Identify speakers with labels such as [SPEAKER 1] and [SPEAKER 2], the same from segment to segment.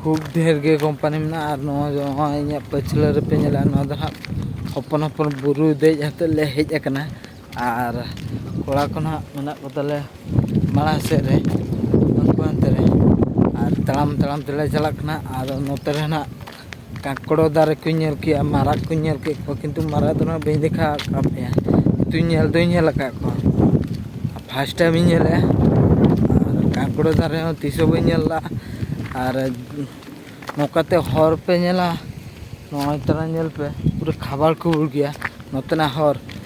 [SPEAKER 1] ᱠᱷᱩᱵ ᱰᱷᱮᱨ ᱜᱮ ᱠᱳᱢᱯᱟᱱᱤ ᱢᱮᱱᱟᱜᱼᱟ ᱟᱨ ᱱᱚᱣᱟ ᱫᱚ ᱱᱚᱜᱼᱚᱭ ᱤᱧᱟᱹᱜ ᱯᱟᱹᱪᱷᱞᱟᱹ ᱨᱮᱯᱮ ᱧᱮᱞᱟ ᱱᱚᱣᱟ ᱫᱚ ᱦᱟᱸᱜ ᱦᱚᱯᱚᱱ ᱦᱚᱯᱚᱱ ᱵᱩᱨᱩ ᱫᱮᱡ ᱠᱟᱛᱮᱫ ᱞᱮ ᱦᱮᱡ ᱟᱠᱟᱱᱟ ᱟᱨ ᱠᱚᱲᱟ ᱠᱚ ᱦᱟᱸᱜ ᱢᱮᱱᱟᱜ ᱠᱚᱛᱟᱞᱮᱭᱟ ᱢᱟᱲᱟᱝ ᱥᱮᱫ ᱨᱮ ᱩᱱᱠᱩ ᱦᱟᱱᱛᱮ ᱨᱮ ᱟᱨ ᱛᱟᱲᱟᱢ ᱛᱟᱲᱟᱢ ᱛᱮᱞᱮ ᱪᱟᱞᱟᱜ ᱠᱟᱱᱟ ᱟᱨ ᱱᱚᱛᱮ ᱨᱮ ᱦᱟᱸᱜ ᱠᱟᱸᱠᱲᱚ ᱫᱟᱨᱮ ᱠᱚᱧ ᱧᱮᱞ ᱠᱮᱜᱼᱟ ᱢᱟᱨᱟᱜ ᱠᱚᱧ ᱧᱮᱞ ᱠᱮᱜ ᱠᱚᱣᱟ ᱠᱤᱱᱛᱩ ᱢᱟᱨᱟᱜ ᱫᱚ ᱦᱟᱸᱜ ᱵᱟᱹᱧ ᱫᱮᱠᱷᱟ ᱟᱠᱟᱫ ᱯᱮᱭᱟ ᱠᱤᱱᱛᱩ ᱧᱮᱞ ᱫᱚᱧ ᱧᱮᱞ ᱟᱠᱟᱫ ᱠᱚᱣᱟ ᱯᱷᱟᱥᱴ ᱴᱟᱭᱤᱢ ᱤᱧ ᱧᱮᱞᱮᱜᱼᱟ ᱟᱨ ᱠᱟᱸᱠᱲᱚ ᱫᱟᱨᱮ ᱦᱚᱸ ᱛᱤᱥ ᱦᱚᱸ ᱵᱟᱹᱧ ᱧᱮᱞ ᱞᱮᱜᱼᱟ ᱟᱨ ᱱᱚᱝᱠᱟᱛᱮ ᱦᱚᱨ ᱯᱮ ᱧᱮᱞᱟ ᱱᱚᱜᱼᱚᱭ ᱛᱚᱨᱟ ᱧᱮᱞ ᱯᱮ ᱯᱩᱨᱟᱹ ᱠᱷᱟᱵᱟᱲ ᱠᱷᱩᱵᱩᱲ ᱜᱮᱭᱟ ᱱᱚᱛᱮᱱᱟᱜ ᱦᱚᱨ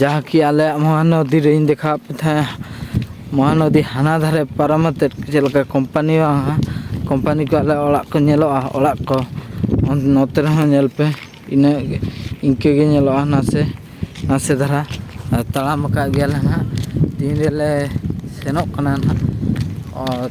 [SPEAKER 1] ᱡᱟᱦᱟᱸ ᱠᱤ ᱟᱞᱮᱭᱟᱜ ᱢᱚᱦᱟᱱᱚᱫᱤ ᱨᱮᱧ ᱫᱮᱠᱷᱟᱣᱟᱫ ᱯᱮ ᱛᱟᱦᱮᱸᱫ ᱢᱚᱦᱟᱱᱚᱫᱤ ᱦᱟᱱᱟ ᱫᱷᱟᱨᱮ ᱯᱟᱨᱚᱢ ᱠᱟᱛᱮᱫ ᱪᱮᱫ ᱞᱮᱠᱟ ᱠᱳᱢᱯᱟᱱᱤ ᱵᱟᱝᱟ ᱠᱳᱢᱯᱟᱱᱤ ᱠᱚ ᱟᱞᱮ ᱚᱲᱟᱜ ᱠᱚ ᱧᱮᱞᱚᱜᱼᱟ ᱚᱲᱟᱜ ᱠᱚ ᱱᱚᱛᱮ ᱨᱮᱦᱚᱸ ᱧᱮᱞ ᱯᱮ ᱤᱱᱟᱹ ᱤᱱᱠᱟᱹ ᱜᱮ ᱧᱮᱞᱚᱜᱼᱟ ᱱᱟᱥᱮ ᱱᱟᱥᱮ ᱫᱷᱟᱨᱟ ᱟᱨ ᱛᱟᱲᱟᱢ ᱟᱠᱟᱫ ᱜᱮᱭᱟᱞᱮ ᱦᱟᱸᱜ ᱛᱤᱱ ᱨᱮᱞᱮ ᱥᱮᱱᱚᱜ ᱠᱟᱱᱟ ᱦᱟᱸᱜ ᱟᱨ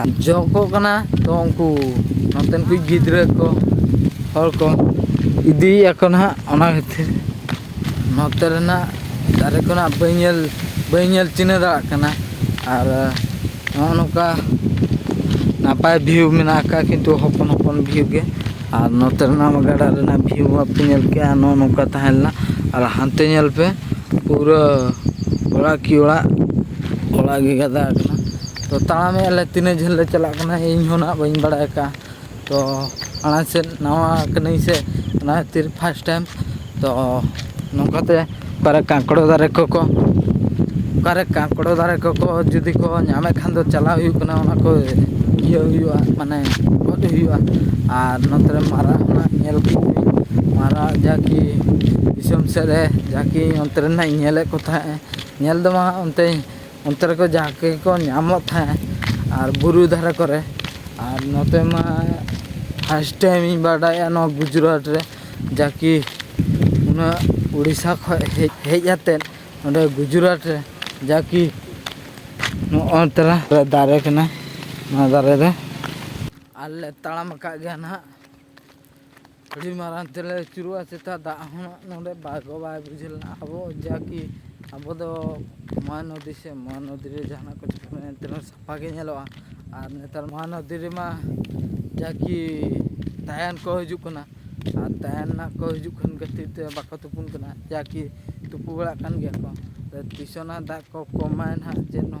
[SPEAKER 1] ᱟᱨ ᱡᱚᱜ ᱠᱚᱜ ᱠᱟᱱᱟ ᱛᱚ ᱩᱱᱠᱩ ᱱᱚᱛᱮᱱ ᱠᱚ ᱜᱤᱫᱽᱨᱟᱹ ᱠᱚ ᱦᱚᱲ ᱠᱚ ᱤᱫᱤᱭᱮᱫ ᱟᱠᱚ ᱱᱟᱦᱟᱜ ᱚᱱᱟ ᱠᱷᱟᱹᱛᱤᱨ ᱱᱚᱛᱮ ᱨᱮᱱᱟᱜ ᱫᱟᱨᱮ ᱠᱚᱱᱟᱜ ᱵᱟᱹᱧ ᱧᱮᱞ ᱵᱟᱹᱧ ᱧᱮᱞ ᱪᱤᱱᱦᱟᱹ ᱫᱟᱲᱮᱭᱟᱜ ᱠᱟᱱᱟ ᱟᱨ ᱱᱚᱜᱼᱚ ᱱᱚᱝᱠᱟ ᱱᱟᱯᱟᱭ ᱵᱷᱤᱭᱩ ᱢᱮᱱᱟᱜ ᱟᱠᱟᱫᱼᱟ ᱠᱤᱱᱛᱩ ᱦᱚᱯᱚᱱ ᱦᱚᱯᱚᱱ ᱵᱷᱤᱭᱩ ᱜᱮ ᱟᱨ ᱱᱚᱛᱮ ᱨᱮᱱᱟᱜ ᱜᱟᱰᱟ ᱨᱮᱱᱟᱜ ᱵᱷᱤᱭᱩ ᱵᱟᱯᱮ ᱧᱮᱞ ᱠᱮᱜᱼᱟ ᱱᱚᱜᱼᱚ ᱱᱚᱝᱠᱟ ᱛᱟᱦᱮᱸ ᱞᱮᱱᱟ ᱟᱨ ᱦᱟᱱᱛᱮ ᱧᱮᱞ ᱯᱮ ᱯᱩᱨᱟᱹ ᱚᱲᱟᱜ ᱠᱤ ᱚᱲᱟᱜ ᱚᱲᱟᱜ ᱜᱮ ᱜᱟᱫᱟ ᱟᱠᱟᱱᱟ ᱛᱚ ᱛᱟᱲᱟᱢᱮᱫ ᱟᱞᱮ ᱛᱤᱱᱟᱹᱜ ᱡᱷᱟᱹᱞ ᱞᱮ ᱪᱟᱞᱟᱜ ᱠᱟᱱᱟ ᱤᱧ ᱦᱚᱸ ᱱᱟᱦᱟᱜ ᱵᱟᱹᱧ ᱵᱟᱲᱟᱭ ᱠᱟᱜᱼᱟ ᱛᱚ ᱢᱟᱲᱟᱝ ᱥᱮᱫ ᱱᱟᱣᱟ ᱠᱟᱹᱱᱟᱹᱧ ᱥᱮ ᱚᱱᱟ ᱠᱷᱟᱹᱛᱤᱨ ᱯᱷᱟᱥᱴ ᱴᱟᱭᱤᱢ ᱛᱚ ᱱᱚᱝᱠᱟᱛᱮ ᱚᱠᱟᱨᱮ ᱠᱟᱸᱠᱲᱳ ᱫᱟᱨᱮ ᱠᱚᱠᱚ ᱚᱠᱟᱨᱮ ᱠᱟᱸᱠᱲᱳ ᱫᱟᱨᱮ ᱠᱚᱠᱚ ᱡᱩᱫᱤ ᱠᱚ ᱧᱟᱢᱮᱫ ᱠᱷᱟᱱ ᱫᱚ ᱪᱟᱞᱟᱣ ᱦᱩᱭᱩᱜ ᱠᱟᱱᱟ ᱚᱱᱟ ᱠᱚ ᱤᱭᱟᱹ ᱦᱩᱭᱩᱜᱼᱟ ᱢᱟᱱᱮ ᱜᱚᱫ ᱦᱩᱭᱩᱜᱼᱟ ᱟᱨ ᱱᱚᱛᱮ ᱨᱮ ᱢᱟᱨᱟᱜ ᱦᱚᱸ ᱧᱮᱞ ᱠᱚ ᱢᱟᱨᱟᱜ ᱡᱟᱠᱤ ᱫᱤᱥᱚᱢ ᱥᱮᱫ ᱨᱮ ᱡᱟᱠᱤ ᱚᱱᱛᱮ ᱨᱮᱱᱟᱜ ᱤᱧ ᱧᱮᱞᱮᱫ ᱠᱚ ᱛᱟᱦᱮᱸᱫ ᱧᱮᱞ ᱫᱚ ᱵᱟᱝ ᱚᱱᱛᱮ ᱚᱱᱛᱮ ᱨᱮᱠᱚ ᱡᱟᱦᱟᱸ ᱜᱮᱠᱚ ᱧᱟᱢᱚᱜ ᱛᱟᱦᱮᱸᱫ ᱟᱨ ᱵᱩᱨᱩ ᱫᱷᱟᱨᱮ ᱠᱚᱨᱮ ᱟᱨ ᱱᱚᱛᱮ ᱢᱟ ᱯᱷᱟᱥᱴ ᱴᱟᱭᱤᱢ ᱤᱧ ᱵᱟᱰᱟᱭᱟ ᱱᱚᱣᱟ ᱜᱩᱡᱽᱨᱟᱴ ᱨᱮ ᱡᱟ ᱠᱤ ᱩᱱᱟᱹᱜ ᱩᱲᱤᱥᱥᱟ ᱠᱷᱚᱱ ᱦᱮᱡ ᱦᱮᱡ ᱠᱟᱛᱮᱫ ᱱᱚᱰᱮ ᱜᱩᱡᱽᱨᱟᱴ ᱨᱮ ᱡᱟ ᱠᱤ ᱱᱚᱜᱼᱚ ᱛᱚᱨᱟ ᱫᱟᱨᱮ ᱠᱟᱱᱟ ᱱᱚᱣᱟ ᱫᱟᱨᱮ ᱨᱮ ᱟᱨᱞᱮ ᱛᱟᱲᱟᱢ ᱟᱠᱟᱫ ᱜᱮᱭᱟ ᱱᱟᱦᱟᱜ ᱟᱹᱰᱤ ᱢᱟᱨᱟᱝ ᱛᱮᱞᱮ ᱟᱹᱪᱩᱨᱚᱜᱼᱟ ᱪᱮᱛᱟ ᱫᱟᱜ ᱦᱚᱸ ᱱᱚᱰᱮ ᱵᱟᱭ ᱜᱚ ᱵᱟᱭ ᱵᱩᱡᱷᱟᱹᱣ ᱞᱮᱱᱟ ᱟᱵᱚ ᱡᱟ ᱠᱤ ᱟᱵᱚ ᱫᱚ ᱢᱚᱦᱟᱱᱚᱫᱤ ᱥᱮ ᱢᱚᱦᱟᱱᱚᱫᱤ ᱨᱮ ᱡᱟᱦᱟᱱᱟᱜ ᱠᱚ ᱪᱤᱠᱟᱹ ᱞᱮᱱᱟ ᱮᱱᱛᱮ ᱨᱮᱦᱚᱸ ᱥᱟᱯᱷᱟ ᱜᱮ ᱧᱮᱞᱚᱜᱼᱟ ᱟᱨ ᱱᱮᱛᱟᱨ ᱢᱚᱦᱟᱱᱚᱫᱤ ᱨᱮᱢᱟ ᱡᱟ ᱠᱤ ᱛᱟᱭᱟᱱ ᱠᱚ ᱦᱤᱡᱩᱜ ᱠᱟᱱᱟ ᱟᱨ ᱛᱟᱭᱟᱱ ᱱᱟᱜ ᱠᱚ ᱦᱤᱡᱩᱜ ᱠᱟᱱ ᱠᱷᱟᱹᱛᱤᱨ ᱛᱮ ᱵᱟᱠᱚ ᱛᱩᱯᱩᱱ ᱠᱟᱱᱟ ᱡᱟ ᱠᱤ ᱛᱩᱯᱩ ᱵᱟᱲᱟᱜ ᱠᱟᱱ ᱜᱮᱭᱟ ᱠᱚ ᱛᱤᱥᱚᱜ ᱱᱟᱜ ᱫᱟᱜ ᱠᱚ ᱠᱚᱢᱟᱭ ᱱᱟᱜ ᱡᱮᱱᱚ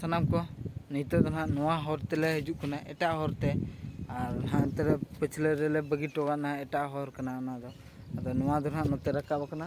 [SPEAKER 1] ᱥᱟᱱᱟᱢ ᱠᱚ ᱱᱤᱛᱚᱜ ᱫᱚ ᱱᱟᱦᱟᱜ ᱱᱚᱣᱟ ᱦᱚᱨ ᱛᱮᱞᱮ ᱦᱤᱡᱩᱜ ᱠᱟᱱᱟ ᱮᱴᱟᱜ ᱦᱚᱨ ᱛᱮ ᱟᱨ ᱱᱟᱦᱟᱜ ᱱᱚᱛᱮ ᱨᱮ ᱯᱟᱹᱪᱷᱞᱟᱹ ᱨᱮᱞᱮ ᱵᱟᱹᱜᱤ ᱦᱚᱴᱚ ᱠᱟᱜᱼᱟ ᱱᱟᱦᱟᱜ ᱮᱴᱟᱜ ᱦᱚᱨ ᱠᱟᱱᱟ ᱚᱱᱟ ᱫᱚ ᱟᱫᱚ ᱱᱚᱣᱟ ᱫᱚ ᱱᱟᱦᱟᱜ ᱱᱚᱛᱮ ᱨᱟᱠᱟᱵ ᱟᱠᱟᱱᱟ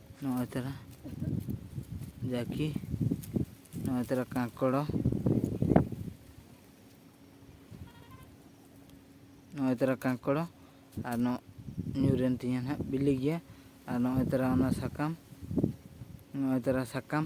[SPEAKER 1] ᱱᱚᱜᱼᱚᱭ ᱛᱟᱨᱟ ᱡᱟᱹᱠᱤ ᱱᱚᱜᱼᱚᱭ ᱛᱟᱨᱟ ᱠᱟᱸᱠᱚᱲᱚ ᱱᱚᱜᱼᱚᱭ ᱛᱟᱨᱟ ᱠᱟᱸᱠᱚᱲᱚ ᱟᱨ ᱱᱚᱜ ᱧᱩᱨᱮᱱ ᱛᱤᱧᱟᱹ ᱱᱟᱦᱟᱜ ᱵᱤᱞᱤ ᱜᱮᱭᱟ ᱟᱨ ᱱᱚᱜᱼᱚᱭ ᱛᱟᱨᱟ ᱚᱱᱟ ᱥᱟᱠᱟᱢ ᱱᱚᱜᱼᱚᱭ ᱛᱟᱨᱟ ᱥᱟᱠᱟᱢ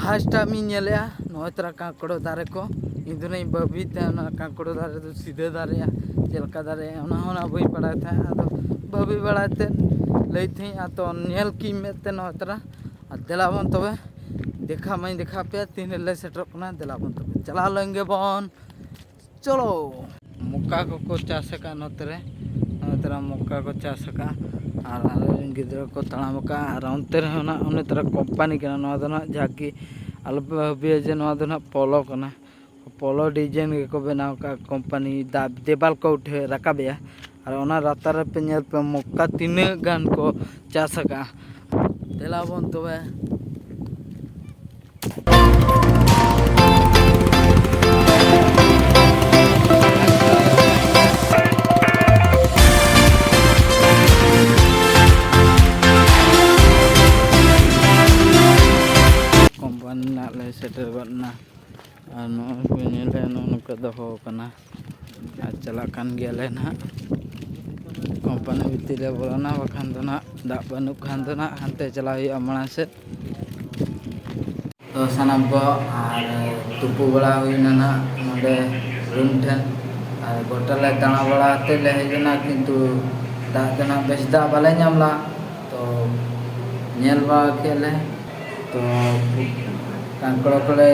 [SPEAKER 1] ᱯᱷᱟᱥᱴ ᱴᱟᱭᱤᱢ ᱤᱧ ᱧᱮᱞᱮᱜᱼᱟ ᱱᱚᱜᱼᱚᱭ ᱛᱚᱨᱟ ᱠᱟᱸᱠᱲᱳ ᱫᱟᱨᱮ ᱠᱚ ᱤᱧ ᱫᱚ ᱦᱟᱸᱜ ᱵᱷᱟᱹᱵᱤᱭᱮᱫ ᱛᱟᱦᱮᱱᱟ ᱱᱚᱣᱟ ᱠᱟᱸᱠᱲᱳ ᱫᱟᱨᱮ ᱫᱚ ᱥᱤᱫᱷᱟᱹ ᱫᱟᱨᱮᱜᱼᱟ ᱪᱮᱫ ᱞᱮᱠᱟ ᱫᱟᱨᱮᱜᱼᱟ ᱚᱱᱟ ᱦᱚᱸ ᱦᱟᱸᱜ ᱵᱟᱹᱧ ᱵᱟᱲᱟᱭ ᱛᱟᱦᱮᱸᱜ ᱟᱫᱚ ᱵᱷᱟᱹᱵᱤ ᱵᱟᱲᱟᱭ ᱛᱮ ᱞᱟᱹᱭ ᱛᱟᱦᱮᱸᱜ ᱟᱫᱚ ᱧᱮᱞ ᱠᱮᱜᱼᱟᱹᱧ ᱢᱮᱫ ᱛᱮ ᱱᱚᱜᱼᱚᱭ ᱛᱚᱨᱟ ᱟᱨ ᱫᱮᱞᱟ ᱵᱚᱱ ᱛᱚᱵᱮ ᱫᱮᱠᱷᱟᱣ ᱢᱟᱹᱧ ᱫᱮᱠᱷᱟᱣ ᱯᱮᱭᱟ ᱛᱤᱱ ᱨᱮᱞᱮ ᱥᱮᱴᱮᱨᱚᱜ ᱠᱟᱱᱟ ᱫᱮᱞᱟ ᱵᱚᱱ ᱛᱚᱵᱮ ᱪᱟᱞᱟᱣ ᱞᱮᱱ ᱜᱮᱵᱚᱱ ᱪᱚᱞᱚ ᱢᱚᱠᱟ ᱠᱚᱠᱚ ᱪᱟᱥ ᱟᱠᱟᱫ ᱱᱚᱛᱮ ᱨᱮ ᱱᱚᱛᱮ ᱨᱮ ᱢᱚᱠᱟ ᱠᱚ ᱪᱟᱥ ᱟᱠᱟᱫ ᱟᱨ ᱟᱞᱮᱨᱮᱱ ᱜᱤᱫᱽᱨᱟᱹ ᱠᱚ ᱛᱟᱲᱟᱢ ᱟᱠᱟᱫ ᱟᱨ ᱚᱱᱛᱮ ᱨᱮᱦᱚᱸ ᱱᱟᱦᱟᱜ ᱚᱱᱮ ᱛᱚᱨᱟ ᱠᱳᱢᱯᱟᱱᱤ ᱠᱟᱱᱟ ᱱᱚᱣᱟ ᱫᱚ ᱱᱟᱦᱟᱜ ᱡᱟᱜᱮ ᱟᱞᱚᱯᱮ ᱵᱷᱟᱹᱵᱤᱭᱟ ᱡᱮ ᱱᱚᱣᱟ ᱫᱚ ᱱᱟᱦᱟᱜ ᱯᱚᱞᱚ ᱠᱟᱱᱟ ᱯᱚᱞᱚ ᱰᱤᱡᱟᱭᱤᱱ ᱜᱮᱠᱚ ᱵᱮᱱᱟᱣ ᱟᱠᱟᱫ ᱠᱳᱢᱯᱟᱱᱤ ᱫᱟᱜ ᱫᱮᱣᱟᱞ ᱠᱚ ᱩᱴᱷᱟᱹᱣ ᱨᱟᱠᱟᱵᱮᱜᱼᱟ ᱟᱨ ᱚᱱᱟ ᱞᱟᱛᱟᱨ ᱨᱮᱯᱮ ᱧᱮᱞ ᱯᱮ ᱢᱚᱠᱟ ᱛᱤᱱᱟᱹᱜ ᱜᱟᱱ ᱠᱚ ᱪᱟᱥ ᱟᱠᱟᱜᱼᱟ ᱫᱮᱞᱟ ᱵᱚᱱ ᱛᱚᱵᱮ ᱠᱚᱢᱯᱟᱱᱤ ᱨᱮᱱᱟᱜ ᱞᱮ ᱥᱮᱴᱮᱨ ᱜᱚᱫ ᱮᱱᱟ ᱟᱨ ᱱᱚᱜᱼᱚᱭ ᱯᱮ ᱧᱮᱞ ᱞᱮᱜᱼᱟ ᱱᱚᱜᱼᱚ ᱱᱚᱝᱠᱟ ᱫᱚᱦᱚ ᱟᱠᱟᱱᱟ ᱟᱨ ᱪᱟᱞᱟᱜ ᱠᱟᱱ ᱜᱮᱭᱟᱞᱮ ᱱᱟᱦᱟᱜ ᱠᱳᱢᱯᱟᱱᱤ ᱵᱷᱤᱛᱤᱨ ᱨᱮ ᱵᱚᱞᱚᱱᱟ ᱵᱟᱠᱷᱟᱱ ᱫᱚ ᱱᱟᱦᱟᱜ ᱫᱟᱜ ᱵᱟᱹᱱᱩᱜ ᱠᱷᱟᱱ ᱫᱚ ᱱᱟᱦᱟᱜ ᱦᱟᱱᱛᱮ ᱪᱟᱞᱟᱜ ᱦᱩᱭᱩᱜᱼᱟ ᱢᱟᱲᱟᱝ ᱥᱮᱫ ᱛᱚ ᱥᱟᱱᱟᱢ ᱠᱚ ᱟᱨ ᱛᱩᱯᱩ ᱵᱟᱲᱟ ᱦᱩᱭᱱᱟ ᱱᱟᱦᱟᱜ ᱱᱚᱰᱮ ᱨᱩᱢ ᱴᱷᱮᱱ ᱟᱨ ᱜᱚᱴᱟ ᱞᱮ ᱫᱟᱬᱟ ᱵᱟᱲᱟ ᱠᱟᱛᱮᱫ ᱞᱮ ᱦᱮᱡ ᱮᱱᱟ ᱠᱤᱱᱛᱩ ᱫᱟᱜ ᱫᱚ ᱱᱟᱦᱟᱜ ᱵᱮᱥ ᱫᱟᱜ ᱵᱟᱞᱮ ᱧᱟᱢ ᱞᱮᱫᱟ ᱛᱚ ᱧᱮᱞ ᱵᱟᱲᱟ ᱠᱮᱫ ᱞᱮ ᱛᱚ ᱠᱟᱸᱠᱲᱚ ᱠᱚᱞᱮ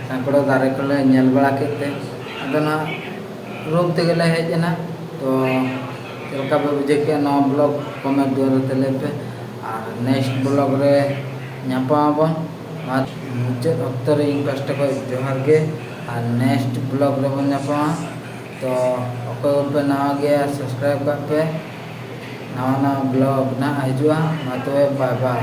[SPEAKER 1] ᱠᱟᱸᱠᱲᱚ ᱫᱟᱨᱮ ᱠᱚᱞᱮ ᱧᱮᱞ ᱵᱟᱲᱟ ᱠᱮᱫ ᱛᱮ ᱟᱫᱚ ᱱᱚᱣᱟ ᱨᱳᱜᱽ ᱛᱮᱜᱮ ᱞᱮ ᱦᱮᱡ ᱮᱱᱟ ᱛᱚ ᱪᱮᱫ ᱞᱮᱠᱟ ᱯᱮ ᱵᱩᱡᱷᱟᱹᱣ ᱠᱮᱜᱼᱟ ᱱᱚᱣᱟ ᱵᱞᱚᱜᱽ ᱠᱚᱢᱮᱱᱴ ᱫᱩᱣᱟᱹᱨ ᱨᱮ ᱞᱟᱹᱭ ᱯᱮ ᱟᱨ ᱱᱮᱠᱥᱴ ᱵᱞᱚᱜᱽ ᱨᱮ ᱧᱟᱯᱟᱢ ᱟᱵᱚᱱ ᱟᱨ ᱢᱩᱪᱟᱹᱫ ᱚᱠᱛᱚ ᱨᱮ ᱤᱧ ᱯᱟᱥᱴᱟ ᱠᱷᱚᱱ ᱡᱚᱦᱟᱨ ᱜᱮ ᱟᱨ ᱱᱮᱠᱥᱴ ᱵᱞᱚᱜᱽ ᱨᱮᱵᱚᱱ ᱧᱟᱯᱟᱢᱟ ᱛᱚ ᱚᱠᱚᱭ ᱠᱚᱯᱮ ᱱᱟᱣᱟ ᱜᱮᱭᱟ ᱥᱟᱵᱥᱠᱨᱟᱭᱤᱵᱽ ᱠᱟᱜ ᱯᱮ ᱱᱟᱣᱟ ᱱᱟᱣᱟ ᱵᱞᱚᱜᱽ ᱱᱟᱜ ᱦᱤᱡᱩᱜᱼᱟ ᱢᱟ ᱛᱚᱵᱮ ᱵᱟᱭ ᱵᱟᱭ